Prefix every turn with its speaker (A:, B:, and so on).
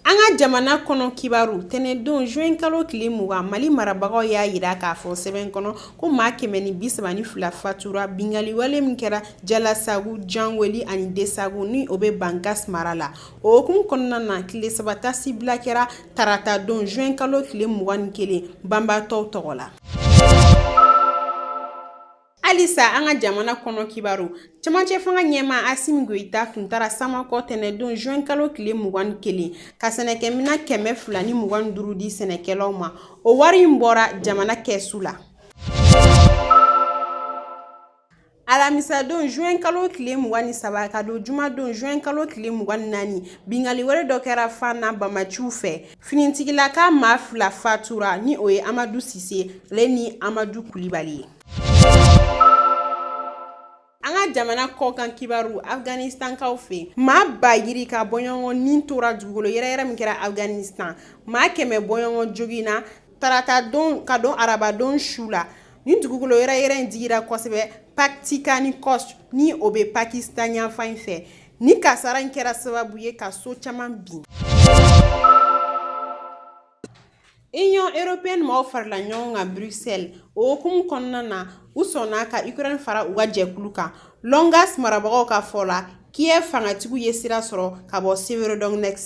A: An ka jamana kɔnɔ kibaru tɛnɛndon juin kalo tile mugan Mali marabagaw y'a yira k'a fɔ sɛbɛn kɔnɔ ko maa kɛmɛ ni bi saba ni fila fatura binkanni wale min kɛra Jalasagu, Janweli ani Desagu ni o bɛ Bankas mara la, o hukumu kɔnɔna na tile saba taasibila kɛra tarata don juin kalo tile mugan ni kelen banbaatɔw tɔgɔ la. halisa an ka jamana kɔnɔ kibaru cɛmancɛ fanga ɲɛmaa asimi goyita tun taara samakɔ tɛnɛdon juin kalo tile mugan ni kelen ka sɛnɛkɛmina kɛmɛ fila ni mugan ni duuru di sɛnɛkɛlaw ma o wari in bɔra jamana kɛsu la alamisadon juin kalo tile mugan ni saba ka don jumadon juin kalo tile mugan ni naani bingali wale dɔ kɛra fana banbaanciw fɛ finitigilaka maa fila fatura ni o ye amadu sise ale ni amadu kulibali ye jamana kɔkan kibaru afganistankaw fɛ maa ba yirika bɔɲɔgɔn ni tora dugukolo yɛrɛyɛrɛ min kɛra afganistan maa kɛmɛ bɔɲɔgɔn joginna tarata don ka don arabadon su la nin dugukolo yɛrɛyɛrɛ in digira kosɛbɛ paktika ni kɔst ni o bɛ pakistan yanfan in fɛ nin kasara in kɛra sababu ye ka so caman bin Union européenne maaw farala ɲɔgɔn kan Bruxelles o hukumu kɔnɔna na u sɔnna ka Ukraine fara u ka jɛkulu kan Lougansk marabagaw ka fɔ la Kiev fangatigiw ye sira sɔrɔ ka bɔ Severodonetsk